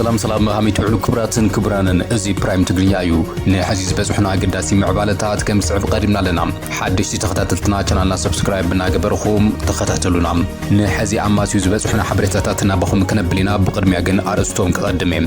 ሰላም ሰላም ሃመይ ትውዕሉ ክብራትን ክብራንን እዚ ፕራይም ትግርኛ እዩ ንሐዚ ዝበፅሑና ኣገዳሲ ምዕባለታት ከም ዝስዕብ ቀዲምና ኣለና ሓደሽቲ ተኸታተልትና ቻናልና ሰብስክራይብ እናገበርኹም ተኸታተሉና ንሐዚ ኣማስዩ ዝበፅሑና ሓበሬታታት ናባኹም ክነብል ኢና ብቅድሚያ ግን ኣርእስቶም ክቐድም እየ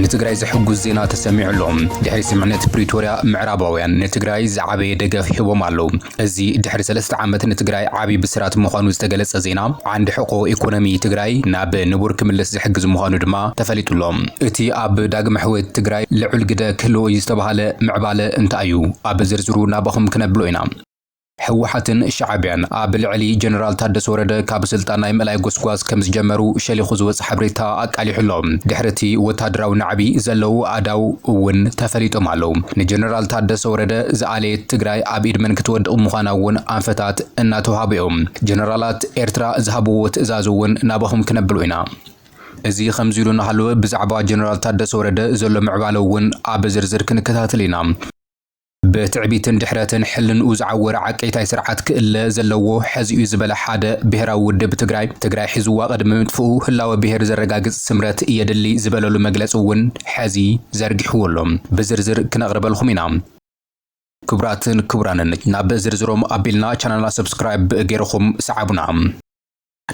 ንትግራይ ዘሕጉስ ዜና ተሰሚዑ ኣሎ። ድሕሪ ስምዕነት ፕሪቶርያ ምዕራባውያን ንትግራይ ዝዓበየ ደገፍ ሂቦም ኣለው። እዚ ድሕሪ ሰለስተ ዓመት ንትግራይ ዓብይ ብስራት ምዃኑ ዝተገለፀ ዜና ዓንዲ ሕቆ ኢኮኖሚ ትግራይ ናብ ንቡር ክምለስ ዝሕግዝ ምዃኑ ድማ ተፈሊጡ ኣሎ። እቲ ኣብ ዳግመ ሕውየት ትግራይ ልዑል ግደ ክህልዎ እዩ ዝተብሃለ ምዕባለ እንታይ እዩ? ኣብ ዝርዝሩ ናባኹም ክነብሎ ኢና። ህወሓትን ሻዕቢያን ኣብ ልዕሊ ጀነራል ታደሰ ወረደ ካብ ስልጣን ናይ ምእላይ ጎስጓስ ከም ዝጀመሩ ሸሊኹ ዝወፀ ሓበሬታ ኣቃሊሑ ኣሎ። ድሕሪ እቲ ወታደራዊ ናዕቢ ዘለዉ ኣእዳው እውን ተፈሊጦም ኣለዉ። ንጀነራል ታደሰ ወረደ ዝኣለየት ትግራይ ኣብ ኢድ መን ክትወድቕ ምዃና እውን ኣንፈታት እናተውሃቡ እዮም። ጀነራላት ኤርትራ ዝሃብዎ ትእዛዝ እውን ናባኹም ክነብሎ ኢና። እዚ ከምዚ ኢሉ እናሃለወ ብዛዕባ ጀነራል ታደሰ ወረደ ዘሎ ምዕባለ እውን ኣብ ዝርዝር ክንከታተል ኢና። ብትዕቢትን ድሕረትን ሕልንኡ ዝዓወረ ዓቀይታይ ስርዓት ክእለ ዘለዎ ሐዚ'ዩ ዝበለ ሓደ ብሄራዊ ውድብ ትግራይ፣ ትግራይ ሒዝዋ ቅድሚ ምጥፍኡ ህላወ ብሄር ዘረጋግፅ ስምረት የድሊ ዝበለሉ መግለፂ እውን ሐዚ ዘርጊሕዎ ኣሎ። ብዝርዝር ክነቕርበልኹም ኢና። ክቡራትን ክቡራንን ናብ ዝርዝሮም ኣቢልና ቻናልና ሰብስክራይብ ገይርኹም ስዓቡና።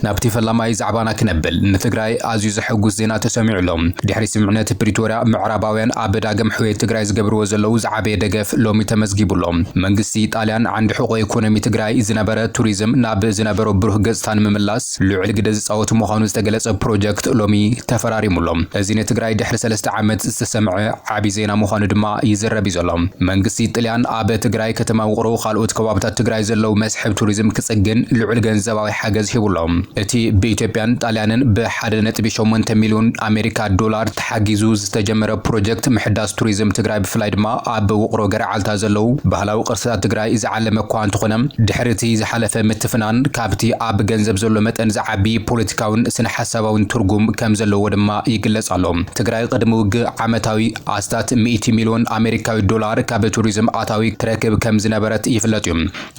ናብቲ ፈላማይ ዛዕባና ክነብል፣ ንትግራይ ኣዝዩ ዘሐጉስ ዜና ተሰሚዑ ኣሎ። ድሕሪ ስምምዕነት ፕሪቶርያ፣ ምዕራባውያን ኣብ ዳግም ሕውየት ትግራይ ዝገብርዎ ዘለዉ ዝዓበየ ደገፍ ሎሚ ተመዝጊቡ ኣሎ። መንግስቲ ጣልያን ዓንዲ ሕቖ ኢኮኖሚ ትግራይ ዝነበረ ቱሪዝም ናብ ዝነበሮ ብሩህ ገፅታ ንምምላስ ልዑል ግደ ዝፃወት ምዃኑ ዝተገለፀ ፕሮጀክት ሎሚ ተፈራሪሙ ኣሎ። እዚ ንትግራይ ድሕሪ ሰለስተ ዓመት ዝተሰምዐ ዓቢ ዜና ምዃኑ ድማ ይዝረብ እዩ ዘሎ። መንግስቲ ጥልያን ኣብ ትግራይ ከተማ ውቕሮ ካልኦት ከባብታት ትግራይ ዘለዉ መስሕብ ቱሪዝም ክጽግን ልዑል ገንዘባዊ ሓገዝ ሂቡ ኣሎ። እቲ ብኢትዮጵያን ጣልያንን ብ ሓደ ነጥቢ ሸሞንተ ሚልዮን ኣሜሪካ ዶላር ተሓጊዙ ዝተጀመረ ፕሮጀክት ምሕዳስ ቱሪዝም ትግራይ ብፍላይ ድማ ኣብ ውቕሮ ገረዓልታ ዘለዉ ባህላዊ ቅርስታት ትግራይ ዝዓለመ እኳ እንተኾነ ድሕሪ እቲ ዝሓለፈ ምትፍናን ካብቲ ኣብ ገንዘብ ዘሎ መጠን ዝዓቢ ፖለቲካውን ስነ-ሓሳባውን ትርጉም ከምዘለዎ ድማ ይግለጽ ኣሎ። ትግራይ ቅድሚ ውግእ ዓመታዊ ኣስታት ሚእቲ ሚልዮን ኣሜሪካዊ ዶላር ካብ ቱሪዝም ኣታዊ ትረክብ ከም ዝነበረት ይፍለጥ እዩ።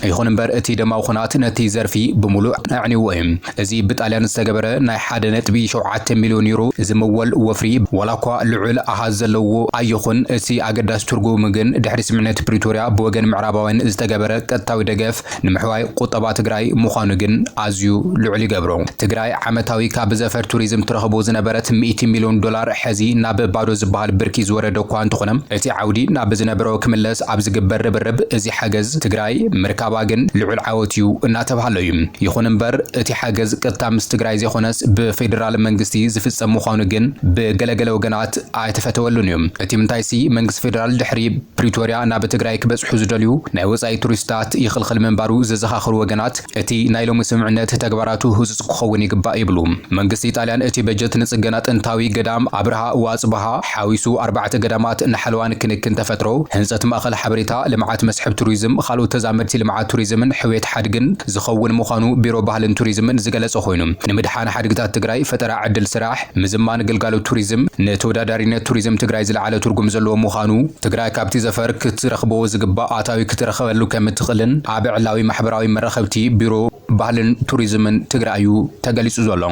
ይኹን እምበር እቲ ደማዊ ኹናት ነቲ ዘርፊ ብምሉእ ኣዕኒዎ እዩ። እዚ ብጣልያን ዝተገበረ ናይ ሓደ ነጥቢ ሸውዓተ ሚልዮን ዩሮ ዝምወል ወፍሪ ዋላኳ ልዑል ኣሃዝ ዘለዎ ኣይኹን እቲ ኣገዳሲ ትርጉሙ ግን ድሕሪ ስምምዕነት ፕሪቶርያ ብወገን ምዕራባውያን ዝተገበረ ቀጥታዊ ደገፍ ንምሕዋይ ቁጠባ ትግራይ ምዃኑ ግን ኣዝዩ ልዑል ይገብሮ። ትግራይ ዓመታዊ ካብ ዘፈር ቱሪዝም ትረኽቦ ዝነበረት ሚእቲ ሚልዮን ዶላር ሕዚ ናብ ባዶ ዝበሃል ብርኪ ዝወረደ እኳ እንተኾነ እቲ ዓውዲ ናብ ዝነበሮ ክምለስ ኣብ ዝግበር ርብርብ እዚ ሓገዝ ትግራይ ምርካባ ግን ልዑል ዓወት እዩ እናተብሃሎ እዩ። ይኹን እምበር እቲ ሓገዝ ቅጥታ ምስ ትግራይ ዘይኾነስ ብፌደራል መንግስቲ ዝፍፀም ምዃኑ ግን ብገለገለ ወገናት ኣይተፈተወሉን እዩ። እቲምንታይሲ መንግስቲ ፌደራል ድሕሪ ፕሪቶርያ ናብ ትግራይ ክበፅሑ ዝደልዩ ናይ ወፃኢ ቱሪስታት ይኽልኽል ምንባሩ ዘዘኻኽሩ ወገናት፣ እቲ ናይ ሎሚ ስምምዕነት ተግባራቱ ህፁፅ ክኸውን ይግባእ ይብሉ። መንግስቲ ጣልያን እቲ በጀት ንፅገና ጥንታዊ ገዳም ኣብርሃ ወኣፅብሃ ሓዊሱ ኣርባዕተ ገዳማት ንሓለዋን ክንክን ተፈጥሮ፣ ህንፀት ማእኸል ሓበሬታ ልምዓት መስሕብ ቱሪዝም ኻልኦት ተዛመድቲ ልምዓት ቱሪዝምን ሕውየት ሓድግን ዝኸውን ምዃኑ ቢሮ ባህልን ቱሪዝምን ዝገለፀ ኾይኑ ንምድሓን ሓድግታት ትግራይ ፈጠራ ዕድል ስራሕ ምዝማን ግልጋሎት ቱሪዝም ንተወዳዳሪነት ቱሪዝም ትግራይ ዝለዓለ ትርጉም ዘለዎ ምዃኑ፣ ትግራይ ካብቲ ዘፈር ክትረኽቦ ዝግባእ ኣታዊ ክትረኽበሉ ከምትኽእልን ኣብ ዕላዊ ማሕበራዊ መራኸብቲ ቢሮ ባህልን ቱሪዝምን ትግራይ እዩ ተገሊፁ ዘሎ።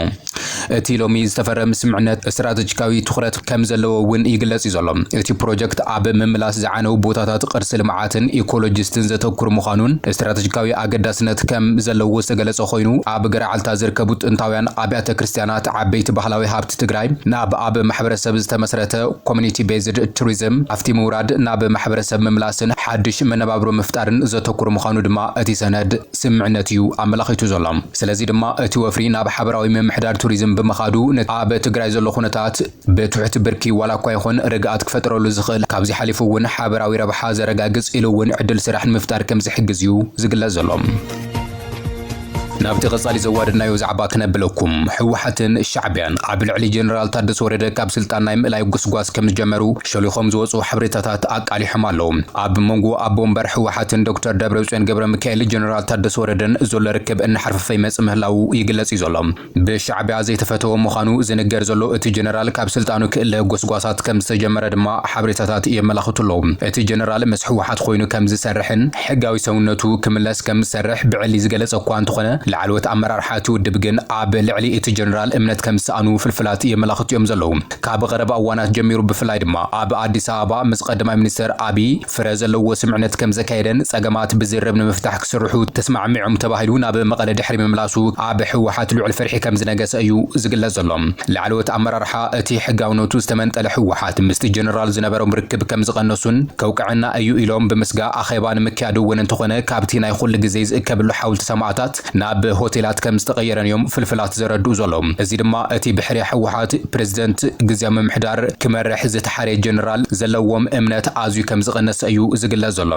እቲ ሎሚ ዝተፈረም ስምምዕነት ስትራተጂካዊ ትኹረት ከምዘለዎ እውን ይግለፅ እዩ ዘሎ። እቲ ፕሮጀክት ኣብ ምምላስ ዝዓነው ቦታታት ቅርሲ ልምዓትን ኢኮሎጂስትን ዘተኩር ምዃኑን ስትራተጂካዊ ኣገዳስነት ከምዘለዎ ዝተገለፀ ኮይኑ ኣብ ገረዓልታ ዝርከቡ ጥንታውያን ኣብያተ ክርስትያናት ናቲ ዓበይቲ ባህላዊ ሃብቲ ትግራይ ናብ ኣብ ማሕበረሰብ ዝተመስረተ፣ Community Based Tourism፣ ሃፍቲ ምውራድ ናብ ማሕበረሰብ ምምላስን ሓዱሽ መነባብሮ ምፍጣርን ዘተኩር ምዃኑ ድማ እቲ ሰነድ ስምምዕነት እዩ ኣመላኺቱ ዘሎ። ስለዚ ድማ እቲ ወፍሪ ናብ ሓበራዊ ምምሕዳር ቱሪዝም ብምኻዱ ነቲ ኣብ ትግራይ ዘሎ ኩነታት ብትሑት ብርኪ ዋላ እኳ ይኹን ርግኣት ክፈጥረሉ ዝኽእል፣ ካብዚ ሓሊፉ እውን ሓበራዊ ረብሓ ዘረጋግጽ ኢሉ እውን ዕድል ስራሕ ንምፍጣር ከም ዝሕግዝ እዩ ዝግለጽ ዘሎ። ናብቲ ቀጻሊ ዘዋደድናዮ ዛዕባ ክነብለኩም፣ ህወሓትን ሻዕቢያን ኣብ ልዕሊ ጀነራል ታደሰ ወረደ ካብ ስልጣን ናይ ምእላይ ጉስጓስ ከም ዝጀመሩ ሸሊኾም ዝወጽኡ ሓበሬታታት ኣቃሊሖም ኣለዉ። ኣብ መንጎ ኣቦ ወንበር ህወሓትን ዶክተር ደብረጽዮን ገብረሚካኤል ጀነራል ታደሰ ወረደን ዘሎ ርክብ እናሓርፈፈ ይመጽእ ምህላዉ ይግለጽ እዩ ዘሎ። ብሻዕቢያ ዘይተፈተወ ምዃኑ ዝንገር ዘሎ እቲ ጀነራል ካብ ስልጣኑ ክእለ ጎስጓሳት ከም ዝተጀመረ ድማ ሓበሬታታት የመላኽቱ ኣለዉ። እቲ ጀነራል ምስ ህወሓት ኮይኑ ከም ዝሰርሕን ሕጋዊ ሰውነቱ ክምለስ ከም ዝሰርሕ ብዕሊ ዝገለፀ እኳ እንተኾነ ላዕለዎት ኣመራርሓ እቲ ውድብ ግን ኣብ ልዕሊ እቲ ጀነራል እምነት ከም ዝሰኣኑ ፍልፍላት የመላኽቱ እዮም ዘለዉ። ካብ ቐረባ እዋናት ጀሚሩ ብፍላይ ድማ ኣብ ኣዲስ ኣበባ ምስ ቐዳማይ ሚኒስትር ኣብይ ፍረ ዘለዎ ስምዕነት ከም ዘካየደን ፀገማት ብዝርርብ ንምፍታሕ ክስርሑ ተስማዕሚዖም ተባሂሉ ናብ መቐለ ድሕሪ ምምላሱ ኣብ ህወሓት ልዑል ፍርሒ ከም ዝነገሰ እዩ ዝግለፅ ዘሎ። ላዕለዎት ኣመራርሓ እቲ ሕጋውነቱ ዝተመንጠለ ህወሓት ምስቲ ጀነራል ዝነበሮም ርክብ ከም ዝቐነሱን ከውቅዐና እዩ ኢሎም ብምስጋእ ኣኼባ ንምክያድ እውን እንተኾነ ካብቲ ናይ ኹሉ ግዜ ዝእከብሉ ሓውልቲ ሰማእታት ናብ ሆቴላት ከም ዝተቐየረን እዮም ፍልፍላት ዘረድኡ ዘለዉ። እዚ ድማ እቲ ብሕርያ ህወሓት፣ ፕረዚደንት ግዝያዊ ምምሕዳር፣ ክመርሕ ዝተሓርየ ጀነራል ዘለዎም እምነት ኣዝዩ ከም ዝቐነሰ እዩ ዝግለጽ ዘሎ።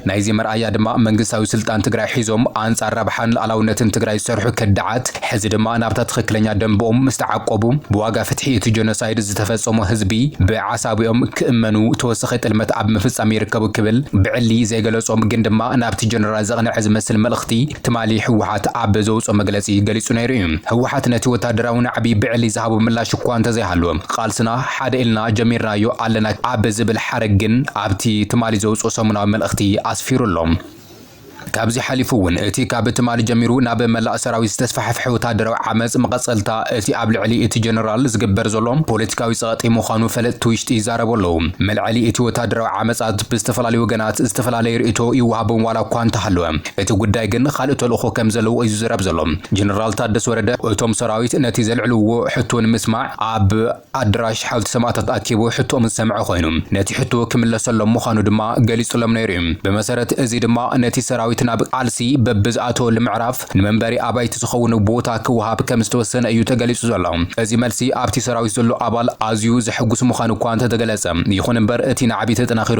ናይዚ መርኣያ ድማ መንግስታዊ ስልጣን ትግራይ ሒዞም ኣንጻር ረብሓን ልኣላውነትን ትግራይ ዝሰርሑ ከዳዓት ሕዚ ድማ ናብታ ትኽክለኛ ደምበኦም ምስ ተዓቆቡ ብዋጋ ፍትሒ እቲ ጀኖሳይድ ዝተፈጸሞ ህዝቢ ብዓሳቢኦም ክእመኑ ተወሳኺ ጥልመት ኣብ ምፍጻም ይርከቡ ክብል ብዕሊ ዘይገለጾም ግን ድማ ናብቲ ጀነራል ዘቕነዐ ዝመስል መልእኽቲ ትማሊ ህወሓት ኣብ ዘውጽኦ መግለጺ ገሊጹ ነይሩ እዩ። ህወሓት ነቲ ወታደራዊ ናዕቢ ብዕሊ ዝሃቦ ምላሽ እኳ እንተዘይሃለወ፣ ቃልስና ሓደ ኢልና ጀሚርናዮ ኣለና ኣብ ዝብል ሓረግ ግን ኣብቲ ትማሊ ዘውጽኦ ሰሙናዊ መልእኽቲ ኣስፊሩ ኣሎ። ካብዚ ሓሊፉ እውን እቲ ካብ ትማሊ ጀሚሩ ናብ መላእ ሰራዊት ዝተስፋሕፍሐ ወታደራዊ ዓመጽ መቐጸልታ እቲ ኣብ ልዕሊ እቲ ጀነራል ዝግበር ዘሎ ፖለቲካዊ ጸቕጢ ምዃኑ ፈለጥቲ ውሽጢ ይዛረቡ ኣለዉ። መልዐሊ እቲ ወታደራዊ ዓመጻት ብዝተፈላለዩ ወገናት ዝተፈላለየ ርእይቶ ይወሃቦም ዋላ እኳ እንተሃለወ፣ እቲ ጉዳይ ግን ኻልእ ተልእኾ ከም ዘለዎ እዩ ዝዝረብ ዘሎ። ጀነራል ታደሰ ወረደ እቶም ሰራዊት ነቲ ዘልዕልዎ ሕቶ ንምስማዕ ኣብ ኣደራሽ ሓውልቲ ሰማእታት ኣኪቡ ሕቶኦም ዝሰምዐ ኾይኑ ነቲ ሕቶ ክምለሰሎም ምዃኑ ድማ ገሊፁሎም ነይሩ እዩ። ብመሰረት እዚ ድማ ነቲ ሰራዊት ናብ ቃልሲ በብዝኣተወሉ ምዕራፍ ንመንበሪ ኣባይቲ ዝኸውን ቦታ ክወሃብ ከም ዝተወሰነ እዩ ተገሊፁ ዘሎ። እዚ መልሲ ኣብቲ ሰራዊት ዘሎ ኣባል ኣዝዩ ዘሕጉስ ምዃኑ እኳ እንተተገለፀ ይኹን እምበር እቲ ናዕቢ ተጠናኺሩ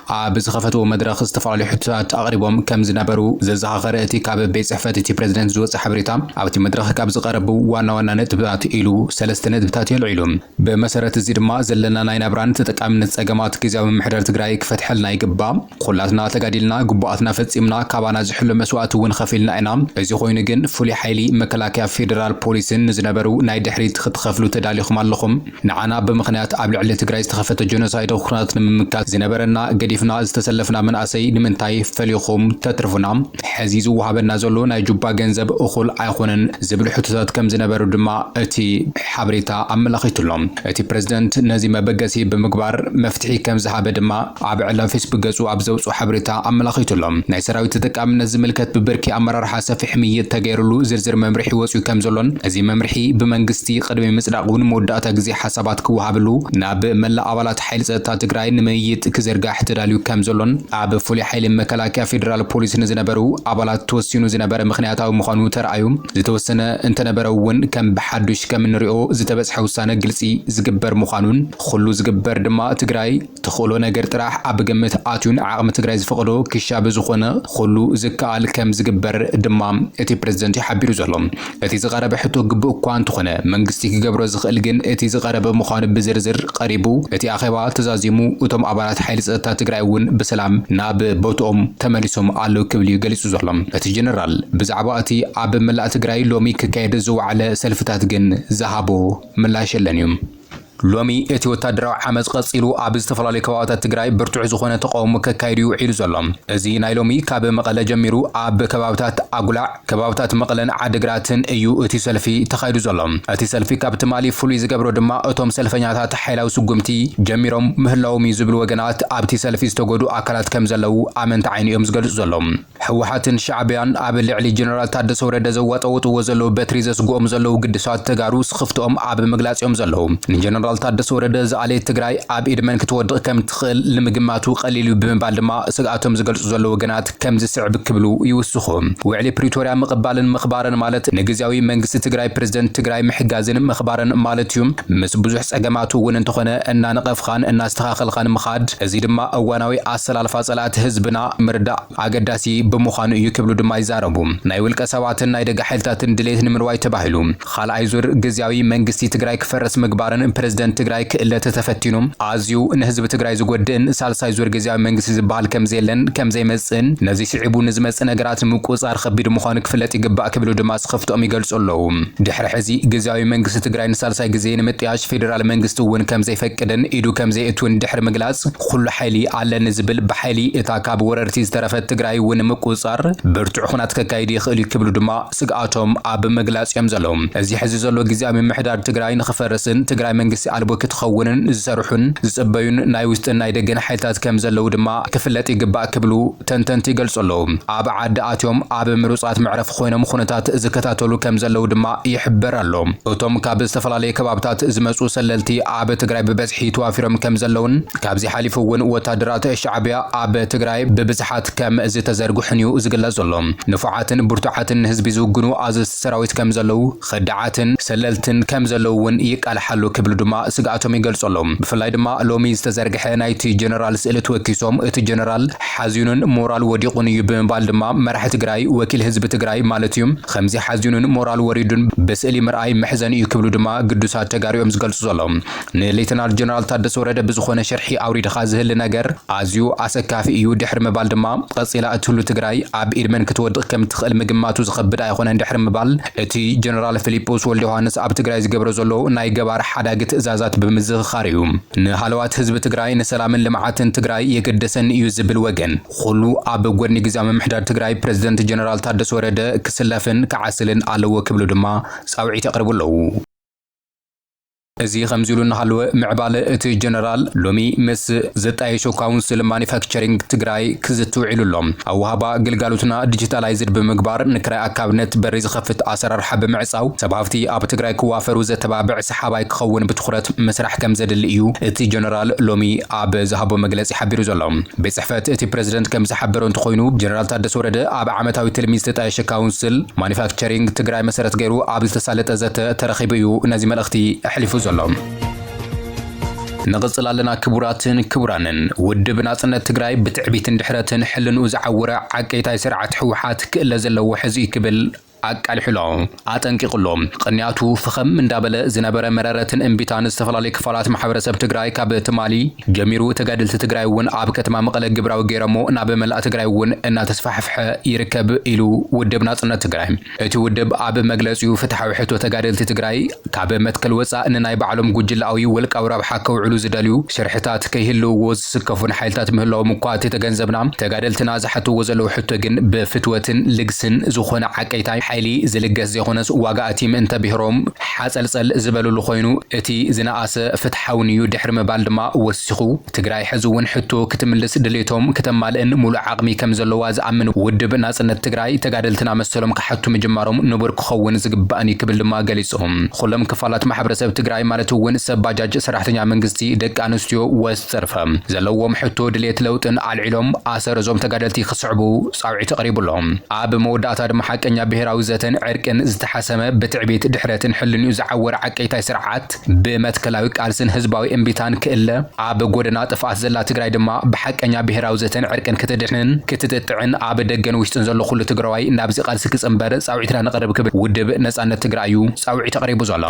ኣብ ዝኸፈትዎ መድረኽ ዝተፈላለዩ ሕቶታት ኣቕሪቦም ከም ዝነበሩ ዘዘኻኸረ እቲ ካብ ቤት ፅሕፈት እቲ ፕረዚደንት ዝወፀ ሓበሬታ ኣብቲ መድረኽ ካብ ዝቐረቡ ዋና ዋና ነጥብታት ኢሉ ሰለስተ ነጥብታት የልዒሉ። ብመሰረት እዚ ድማ ዘለና ናይ ናብራን ተጠቃሚነት ፀገማት ግዚያዊ ምምሕዳር ትግራይ ክፈትሐልና ይግባእ። ኹላትና ተጋዲልና ግቡኣትና ፈፂምና ካባና ዝሕሎ መስዋእቲ እውን ኸፊልና ኢና። እዚ ኾይኑ ግን ፍሉይ ሓይሊ፣ መከላከያ፣ ፌደራል ፖሊስን ንዝነበሩ ናይ ድሕሪት ኽትኸፍሉ ተዳሊኹም ኣለኹም። ንዓና ብምኽንያት ኣብ ልዕሊ ትግራይ ዝተኸፈተ ጆኖሳይዳዊ ኹናት ንምምካት ዝነበረና ገዲፍና ዝተሰለፍና መንኣሰይ ንምንታይ ፈሊኹም ተትርፉና? ሕዚ ዝወሃበና ዘሎ ናይ ጁባ ገንዘብ እኹል ኣይኾነን ዝብል ሕቶታት ከምዝነበሩ ድማ እቲ ሓበሬታ ኣመላኺቱ'ሎ። እቲ ፕረዚደንት ነዚ መበገሲ ብምግባር መፍትሒ ከምዝሃበ ድማ ኣብ ዕላዊ ፌስቡክ ገጹ ኣብ ዘውጽኦ ሓበሬታ ኣመላኺቱ ኣሎ። ናይ ሰራዊት ተጠቃምነት ዝምልከት ብብርኪ ኣመራርሓ ሰፊሕ ምይይጥ ተገይርሉ ዝርዝር መምርሒ ወጺኡ ከምዘሎን እዚ መምርሒ ብመንግስቲ ቅድሚ ምጽዳቑ ንመወዳእታ ግዜ ሓሳባት ክወሃብሉ ናብ መላእ ኣባላት ሓይሊ ጸጥታ ትግራይ ንምይይጥ ክዝርጋሕ ተዳልዩ ከምዘሎን ኣብ ፍሉይ ሓይሊ መከላከያ ፌደራል ፖሊስ ንዝነበሩ ኣባላት ተወሲኑ ዝነበረ ምኽንያታዊ ምዃኑ ተራእዩ ዝተወሰነ እንተነበረ'ውን ከም ብሓዱሽ ከምንሪኦ ዝተበጽሐ ውሳነ ግልጺ ዝግበር ምዃኑን ኹሉ ዝግበር ድማ ትግራይ ትኽእሎ ነገር ጥራሕ ኣብ ግምት ኣትዩን ዓቕሚ ትግራይ ዝፈቕዶ ክሻ ብዝኾነ ኹሉ ዝከኣል ከም ዝግበር ድማ እቲ ፕረዚደንት እዩ ሓቢሩ ዘሎ። እቲ ዝቐረበ ሕቶ ግቡእ እኳ እንተኾነ መንግስቲ ክገብሮ ዝኽእል ግን እቲ ዝቐረበ ምዃኑ ብዝርዝር ቐሪቡ እቲ ኣኼባ ተዛዚሙ እቶም ኣባላት ሓይሊ ፀጥታ ትግራይ እውን ብሰላም ናብ ቦትኦም ተመሊሶም ኣለው ክብል እዩ ገሊፁ ዘሎ እቲ ጀነራል። ብዛዕባ እቲ ኣብ መላእ ትግራይ ሎሚ ክካየድ ዝወዓለ ሰልፍታት ግን ዝሃቦ ምላሽ የለን እዩ። ሎሚ እቲ ወታደራዊ ዓመጽ ቀጺሉ ኣብ ዝተፈላለዩ ከባቢታት ትግራይ ብርቱዕ ዝኾነ ተቓውሞ ከካይድ'ዩ ውዒሉ ዘሎ። እዚ ናይ ሎሚ ካብ መቐለ ጀሚሩ ኣብ ከባቢታት ኣጉላዕ፣ ከባቢታት መቐለን ዓዲግራትን እዩ እቲ ሰልፊ ተኻይዱ ዘሎ። እቲ ሰልፊ ካብ ትማሊ ፍሉይ ዝገብሮ ድማ እቶም ሰልፈኛታት ሓይላዊ ስጉምቲ ጀሚሮም ምህላዎም'ዩ ዝብሉ ወገናት ኣብቲ ሰልፊ ዝተጎድኡ ኣካላት ከምዘለዉ ኣመንቲ ዓይኒ እዮም ዝገልጹ ዘለዉ። ህወሓትን ሻዕቢያን ኣብ ልዕሊ ጀነራል ታደሰ ወረደ ዘዋጠውጥዎ ዘለዉ በትሪ ዘስግኦም ዘለዉ ግዱሳት ተጋሩ ስኽፍትኦም ኣብ ምግላፅ እዮም ዘለዉ። ንጀነራል ታደሰ ወረደ ዝኣለየት ትግራይ ኣብ ኢድ መን ክትወድቕ ከም ትኽእል ንምግማቱ ቀሊል እዩ ብምባል ድማ ስግኣቶም ዝገልፁ ዘለዉ ወገናት ከምዚ ዝስዕብ ክብሉ ይውስኹ። ውዕሊ ፕሪቶርያ ምቕባልን ምኽባርን ማለት ንግዝያዊ መንግስቲ ትግራይ ፕረዚደንት ትግራይ ምሕጋዝን ምኽባርን ማለት እዩ። ምስ ብዙሕ ፀገማቱ እውን እንተኾነ እናነቐፍኻን እናስተኻኸልኻን ምኻድ። እዚ ድማ እዋናዊ ኣሰላልፋ ፀላእቲ ህዝብና ምርዳእ። ኣገዳሲ ብምዃኑ እዩ ክብሉ ድማ ይዛረቡ። ናይ ውልቀ ሰባትን ናይ ደገ ሓይልታትን ድሌት ንምርዋይ ተባሂሉ ኻልኣይ ዙር ግዝያዊ መንግስቲ ትግራይ ክፈርስ ምግባርን ፕረዚደንት ትግራይ ክእለ ተተፈቲኑ ኣዝዩ ንህዝቢ ትግራይ ዝጎድእን ሳልሳይ ዙር ግዝያዊ መንግስቲ ዝብሃል ከምዘየለን ከምዘይመፅእን ነዙይ ስዒቡ ንዝመፅእ ነገራት ንምቁፅፃር ኸቢድ ምዃኑ ክፍለጥ ይግባእ ክብሉ ድማ ስኽፍትኦም ይገልፁ ኣለው። ድሕሪ ሕዚ ግዝያዊ መንግስቲ ትግራይ ንሳልሳይ ግዜ ንምጥያሽ ፌዴራል መንግስቲ እውን ከምዘይፈቅድን ኢዱ ከምዘየእትውን ድሕሪ ምግላፅ ኹሉ ሓይሊ ኣለኒ ዝብል ብሓይሊ እታ ካብ ወረርቲ ዝተረፈት ትግራይ እውን ንምቁፅፃር ብርቱዕ ኹናት ከካይድ ይኽእል እዩ ክብሉ ድማ ስግኣቶም ኣብ ምግላፅ እዮም ዘለዉ። እዚ ሕዚ ዘሎ ግዝያዊ ምምሕዳር ትግራይ ንኽፈርስን ትግራይ መንግስቲ ኣልቦ ክትኸውንን ዝሰርሑን ዝፅበዩን ናይ ውሽጥን ናይ ደገን ሓይልታት ከም ዘለዉ ድማ ክፍለጥ ይግባእ ክብሉ ተንተንቲ ይገልፁ ኣለዉ። ኣብ ዓዲ ኣትዮም ኣብ ምሩፃት መዕረፊ ኾይኖም ኹነታት ዝከታተሉ ከም ዘለዉ ድማ ይሕበር ኣሎ። እቶም ካብ ዝተፈላለዩ ከባብታት ዝመፁ ሰለልቲ ኣብ ትግራይ ብበዝሒ ተዋፊሮም ከም ዘለዉን ካብዚ ሓሊፉ እውን ወታደራት ሻዕቢያ ኣብ ትግራይ ብብዝሓት ከም ዝተዘርግሑን እዩ ዝግለጽ ዘሎ። ንፉዓትን ብርቱዓትን ንህዝቢ ዝውግኑ ኣዘዝቲ ሰራዊት ከም ዘለዉ፣ ከዳዓትን ሰለልትን ከም ዘለዉ እውን ይቃልሓሉ ክብሉ ድማ ስግኣቶም ይገልጹ ኣለዉ። ብፍላይ ድማ ሎሚ ዝተዘርግሐ ናይቲ ጀነራል ስእሊ ተወኪሶም እቲ ጀነራል ሓዚኑን ሞራል ወዲቑን እዩ ብምባል ድማ መራሒ ትግራይ ወኪል ህዝቢ ትግራይ ማለት እዩ ኸምዚ ሓዚኑን ሞራል ወሪዱን ብስእሊ ምርኣይ መሕዘኒ እዩ ክብሉ ድማ ግዱሳት ተጋሩ እዮም ዝገልጹ ዘለዉ። ንሌተናል ጀነራል ታደሰ ወረደ ብዝኾነ ሽርሒ ኣውሪድኻ ዝህሊ ነገር ኣዝዩ ኣሰካፊ እዩ ድሕሪ ምባል ድማ ቐፂላ እትህሉ ትግራይ ኣብ ኢድ መን ክትወድቕ ከም እትኽእል ምግማቱ ዝኸብድ ኣይኾነን ድሕሪ ምባል እቲ ጀነራል ፊሊጶስ ወልደዮሃንስ ኣብ ትግራይ ዝገብሮ ዘሎ ናይ ገባር ሓዳጊ ትእዛዛት ብምዝኽኻር እዩ ንሃለዋት ህዝቢ ትግራይ ንሰላምን ልምዓትን ትግራይ የገደሰኒ እዩ ዝብል ወገን ኹሉ ኣብ ጎድኒ ግዝያዊ ምምሕዳር ትግራይ ፕረዚደንት ጀነራል ታደሰ ወረደ ክስለፍን ክዓስልን ኣለዎ ክብሉ ድማ ፃውዒት የቕርቡ ኣለው። እዚ ከምዚሉ እናሃለወ ምዕባለ እቲ ጀነራል ሎሚ ምስ ዝጣየሾ ካውንስል ማኑፋክቸሪንግ ትግራይ ክዝቲ ውዒሉ ኣሎ። ኣወሃህባ ግልጋሎትና ዲጂታላይዝድ ብምግባር ንክራይ ኣካብነት በሪ ዝኸፍት ኣሰራርሓ ብምዕፃው ሰብ ሃፍቲ ኣብ ትግራይ ክዋፈሩ ዘተባብዕ ሰሓባይ ክኸውን ብትኹረት ምስራሕ ከምዘድሊ እዩ እቲ ጀነራል ሎሚ ኣብ ዝሃቦ መግለፂ ሓቢሩ ዘሎ። ቤት ፅሕፈት እቲ ፕረዚደንት ከምዝሓበሮ እንተኾይኑ ጀነራል ታደሰ ወረደ ኣብ ዓመታዊ ትልሚ ዝተጣየሸ ካውንስል ቸሪንግ ትግራይ መሰረት ገይሩ ኣብ ዝተሳለጠ ዘተ ተረኺቡ እዩ ነዚ መልእኽቲ ኣሕሊፉ ዘሎ። ንቕጽል ኣለና ክቡራትን ክቡራንን። ውድብ ናጽነት ትግራይ ብትዕቢትን ድሕረትን ሕልንኡ ዝዓወረ ዓቀይታይ ስርዓት ህወሓት ክእለ ዘለዎ ሕዚ'ዩ ክብል ኣቃሊሑ'ሎ። ኣጠንቂቑ'ሎ። ቕንያቱ ፍኸም እንዳበለ ዝነበረ መረረትን እምቢታን ዝተፈላለዩ ክፋላት ማሕበረሰብ ትግራይ ካብ ትማሊ፣ ጀሚሩ ተጋደልቲ ትግራይ እውን ኣብ ከተማ መቐለ ግብራዊ ገይረሞ ናብ መላእ ትግራይ እውን እናተስፋሕፍሐ ይርከብ ኢሉ ውድብ ናፅነት ትግራይ። እቲ ውድብ ኣብ መግለፂኡ ፍትሓዊ ሕቶ ተጋደልቲ ትግራይ ካብ መትከል ወፃእ ንናይ ባዕሎም ጉጅለኣዊ ውልቃዊ ረብሓ ከውዕሉ ዝደልዩ ሽርሕታት ከይህልውዎ ዝስከፉን ሓይልታት ምህላዎም እኳ ተተገንዘብና ተጋደልትና ዝሓትዎ ዘለዉ ሕቶ ግን ብፍትወትን ልግስን ዝኾነ ዓቀይታይ ሓይሊ ዝልገስ ዘይኾነስ ዋጋ ኣቲም እንተብሔሮም ሓጸልጸል ዝበለሉ ኮይኑ እቲ ዝነኣሰ ፍትሓውን እዩ ድሕሪ ምባል ድማ ወሲኹ፣ ትግራይ ሕዚ እውን ሕቶ ክትምልስ ድሌቶም ክተማልእን ሙሉእ ዓቕሚ ከምዘለዋ ዝኣምን ውድብ ናጽነት ትግራይ ተጋደልትና መሰሎም ክሓቱ ምጅማሮም ንቡር ክኸውን ዝግባእን እዩ ክብል ድማ ገሊጹ። ኹሎም ክፋላት ማሕበረሰብ ትግራይ ማለት እውን ሰብ ባጃጅ፣ ሰራሕተኛ መንግስቲ፣ ደቂ ኣንስትዮ፣ ዘርፈ ዘለዎም ሕቶ ድሌት ለውጥን ኣልዒሎም ኣሰር እዞም ተጋደልቲ ክስዕቡ ጻውዒት ቐሪቡ ኣሎ። ኣብ መወዳእታ ድማ ሓቀኛ ብሄራዊ ዘተን ዕርቅን ዝተሓሰመ ብትዕቢት፣ ድሕረትን ሕልንኡ ዝዓወረ ዓቀይታይ ስርዓት ብመትከላዊ ቃልስን ህዝባዊ እምቢታን ክእለ፣ ኣብ ጎደና ጥፍኣት ዘላ ትግራይ ድማ ብሓቀኛ ብሄራዊ ዘተን ዕርቅን ክትድሕንን ክትጥጥዕን ኣብ ደገን ውሽጥን ዘሎ ኩሉ ትግራዋይ ናብዚ ቃልሲ ክጽንበር ጻውዒትና ነቕርብ ክብል ውድብ ነጻነት ትግራእዩ ጻውዒት ኣቕሪቡ ዘሎ።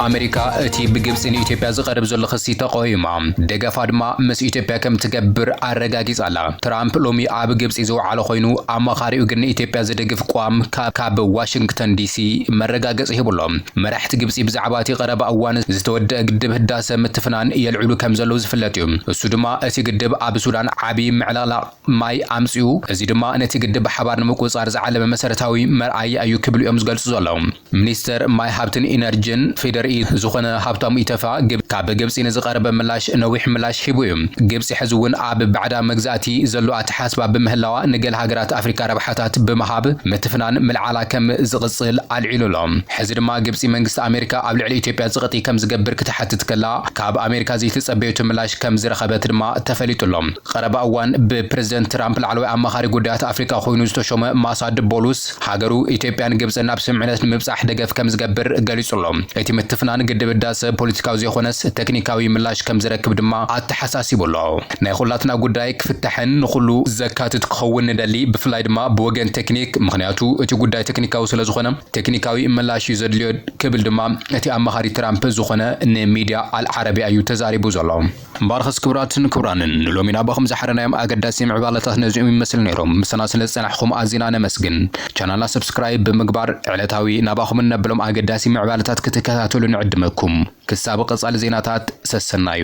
ኣመሪካ እቲ ብግብጺ ንኢትዮጵያ ዝቐርብ ዘሎ ክሲ ተቐውማ፣ ደገፋ ድማ ምስ ኢትዮጵያ ከም ትገብር ኣረጋጊጻ ኣላ። ትራምፕ ሎሚ ኣብ ግብጺ ዝወዓለ ኮይኑ፣ ኣማኻሪኡ ግን ንኢትዮጵያ ዝድግፍ ቅዋም ካብ ዋሽንግተን ዲሲ መረጋገጺ ሂቡ ኣሎ። መራሕቲ ግብጺ ብዛዕባ እቲ ቀረባ እዋን ዝተወደኣ ግድብ ህዳሰ ምትፍናን የልዕሉ ከም ዘለዉ ዝፍለጥ እዩ። እሱ ድማ እቲ ግድብ ኣብ ሱዳን ዓቢ ምዕልቕላቕ ማይ ኣምጺኡ፣ እዚ ድማ ነቲ ግድብ ብሓባር ንምቁጽጻር ዝዓለመ መሰረታዊ መርኣያ እዩ ክብሉ እዮም ዝገልጹ ዘለዉ። ሚኒስተር ማይ ሃብትን ኢነርጅን ፌዴሪኢ ዝኾነ ሃብታሙ ኢተፋ ግብ ካብ ግብጺ ንዝቐረበ ምላሽ ነዊሕ ምላሽ ሂቡ እዩ። ግብጺ ሕዚ እውን ኣብ ባዕዳ መግዛእቲ ዘሎ ኣተሓስባ ብምህላዋ ንገለ ሃገራት ኣፍሪካ ረብሓታት ብምሃብ ምትፍናን ምልዓላ ከም ዝቕጽል ኣልዒሉ ኣሎ። ሕዚ ድማ ግብጺ መንግስቲ ኣሜሪካ ኣብ ልዕሊ ኢትዮጵያ ጽቕጢ ከም ዝገብር ክትሓትት ከላ ካብ ኣሜሪካ ዘይተጸበየቶ ምላሽ ከም ዝረኸበት ድማ ተፈሊጡ ኣሎ። ቐረባ እዋን ብፕረዚደንት ትራምፕ ላዕለዋይ ኣማኻሪ ጉዳያት ኣፍሪካ ኮይኑ ዝተሾመ ማሳድ ቦሉስ፣ ሃገሩ ኢትዮጵያን ግብጽን ናብ ስምምዕነት ንምብጻሕ ደገፍ ከም ዝገብር ገሊጹ'ሎ። እቲ ምትፍናን ግድብ ህዳሰ ፖለቲካዊ ዘይኮነስ ተክኒካዊ ምላሽ ከም ዝረክብ ድማ ኣተሓሳሲቡ'ሎ። ናይ ኹላትና ጉዳይ ክፍታሕን ንኹሉ ዘካትት ክኸውን ንደሊ፣ ብፍላይ ድማ ብወገን ተክኒክ፣ ምኽንያቱ እቲ ጉዳይ ተክኒካዊ ስለ ዝኾነ ተክኒካዊ ምላሽ'ዩ ዘድልዮ ክብል ድማ እቲ ኣማኻሪ ትራምፕ ዝኾነ ንሚድያ ኣል ዓረብያ'ዩ ተዛሪቡ ዘሎ። እምበኣርኸስ ክቡራትን ክቡራንን ንሎሚ ናባኹም ዝሓረናዮም ኣገዳሲ ምዕባለታት ነዚኦም ይመስል ነይሮም ምሳና ስለ ዝጸናሕኹም ኣዚና ነመስግን ቻናልና subscribe ብምግባር ዕለታዊ ናባኹም እነብሎም ኣገዳሲ ምዕባለታት ክትከታተሉ ንዕድመኩም ክሳብ ቐጻሊ ዜናታት ሰሰናዩ።